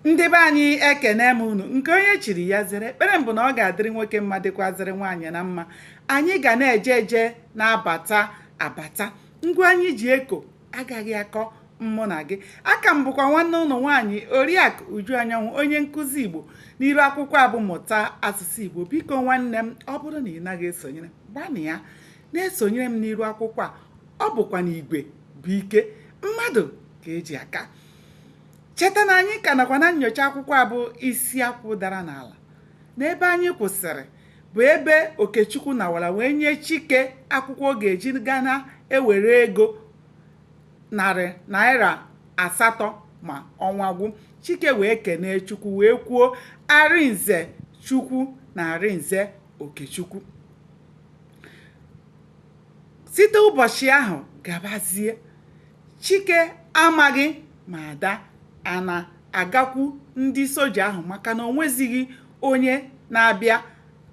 ndị be anyị ekene m unu nke onye chiri ya zere ekpere m bụ na ọ ga-adịrị nwoke mma dịkwazịrị nwaanyị na mma anyị ga na-eje eje na-abata abata ngwa anyị ji eko agaghị akọ mụ na gị aka m bụkwa nwanne unu nwaanyị oriakụ uju anyanwụ onye nkụzi igbo n'iru akwụkwọ a bụ mụta asụsụ igbo biko nwanne m ọ bụrụ na ị naghị esonyere gbanịa na-esonyere m n'iru akwụkwọ a ọ bụkwa na igwe bụ ike mmadụ ka e ji aka cheta na anyị ka nọkwa na nyocha akwụkwọ a bụ isi akwụ dara n'ala n'ebe anyị kwụsịrị bụ ebe okechukwu nawara wee nye chike akwụkwọ ọ ga-eji gaa na-ewere ego narị naira asatọ ma ọnwa gwụ chike wee kenee chukwu wee kwuo arinze chukwu na arinze okechukwu site ụbọchị ahụ gabazie Chike amaghị ma Ada a na-agakwu ndị soja ahụ maka na o nwezighị onye na-abịa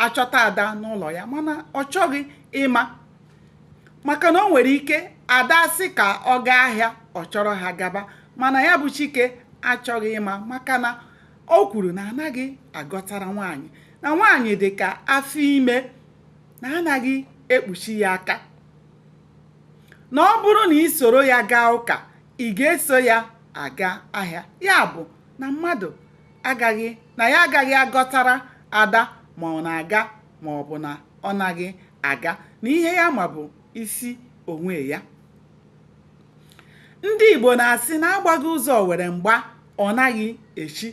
achọta Ada n'ụlọ ya mana ọ chọghị ịma maka na o nwere ike Ada sị ka ọ gaa ahịa ọ chọrọ ha gaba mana ya bụ Chike achọghị ịma maka na o kwuru na anaghị agọtara nwaanyị na nwaanyị dị ka afọ ime na anaghị ekpuchi ya aka na ọ bụrụ na i soro ya gaa ụka ị ga-eso ya aga ahịa ya bụ na mmadụ agaghị na ya agaghị agọtara ada ma ọ na-aga ma ọ bụ na ọ naghị aga na ihe ya ma bụ isi onwe ya ndị Igbo na-asị na agbaghị ụzọ owere mgba ọ naghị echi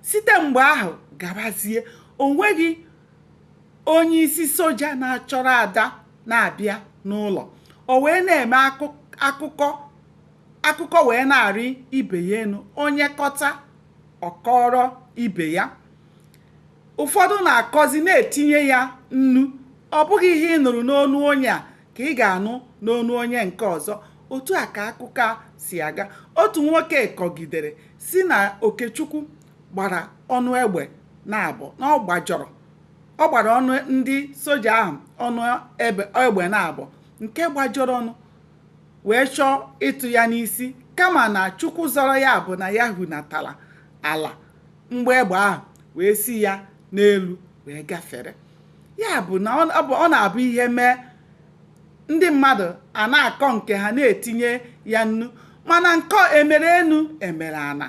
site mgbe ahụ gabazie o nweghị onye isi soja na-achọrọ ada na-abịa n'ụlọ o wee na-eme ka akụkọ wee na-arị ibe ya enu onye kọta ọ kọọrọ ibe ya ụfọdụ na-akọzi na-etinye ya nnu ọ bụghị ihe ị nụrụ n'ọnụ onye a ka ị ga-anụ n'ọnụ onye nke ọzọ otu a ka akụkọ a si aga otu nwoke kọgidere sị na okechukwu gbara ọnụ egbe naabọ na ọ gbajọrọ ọ gbara ọnụ ndị soja ahụ ọnụ egbe naabọ nke gbajọrọ ọnụ wee chọọ ịtụ ya n'isi kama na chukwu zọrọ ya bụ na ya hunatara ala mgbọ egbe ahụ wee si ya n'elu wee gafere ya bụ na ọ na-abụ ihe mee ndị mmadụ a na-akọ nke ha na-etinye ya nnu mana nke emere enu emere ana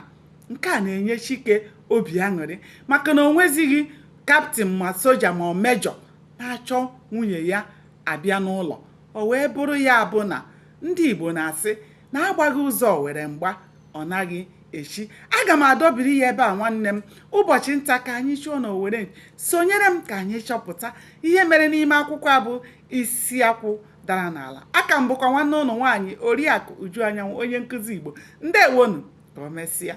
nke a na-enye Chike obi aṅụrị maka na o nwezighị kaptịn ma soja ma ọ mejọ na-achọ nwunye ya abịa n'ụlọ o wee bụrụ ya bụ na ndị Igbo na-asị na agbaghị ụzọ owere mgba ọ naghị echi aga m adọbiri ya ebe a nwanne m ụbọchị nta ka anyị chụọ n'owere sonyere m ka anyị chọpụta ihe mere n'ime akwụkwọ a bụ isi akwụ dara n'ala aka m bụkwa nwanne unu nwaanyị oriakụ uju anyanwụ onye nkụzi igbo ndewonụ ka o mesịa